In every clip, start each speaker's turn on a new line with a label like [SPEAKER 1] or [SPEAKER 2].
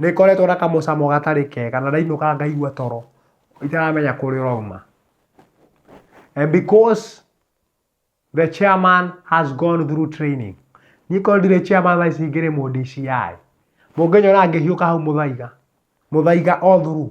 [SPEAKER 1] Nĩngoretwo na kamũcamo gatarĩ kega na ndainũka ngaigua toro itaramenya kũrĩa ũrauma. And because the chairman has gone through training, niĩ korwo ndirĩ chairman thaa ici ingĩrĩ mũ DCI. Mũngĩnyona ngĩhiũka hau mũthaiga, mũthaiga all through.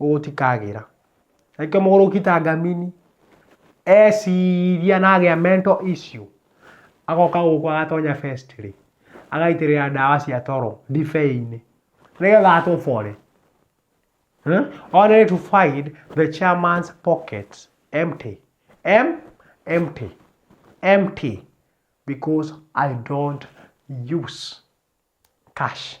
[SPEAKER 1] gũtikagĩra. Nake mũgũrũki ta ngamini eciria na agĩa mental issue agoka gũkũ agatonya first rĩ agaitĩrĩra ndawa cia toro ndibei-inĩ nĩgetha atobore. Only to find the chairman's pockets empty. Empty. Empty because I don't use cash.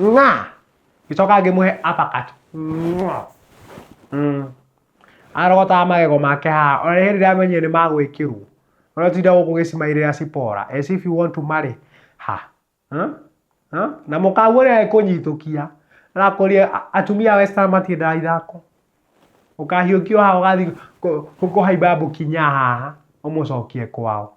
[SPEAKER 1] Nga. Iso kage muhe uppercut. Nga. Mm. Arogotaga magego make haha. Ona hĩndĩ ndamenyire nĩ magwĩkĩrwo. Ona tinda gũkũ gĩcimairĩra cipora. As if you want to marry. Ha. Huh? Huh? Na mũkaguo nĩ agĩkũnyitũkia. Arakũria atumia Western matiendaga ithako. Ũkahiũkio haha ũgathiĩ kũhaimba mbũkinya haha. Ũmũcokie kwao.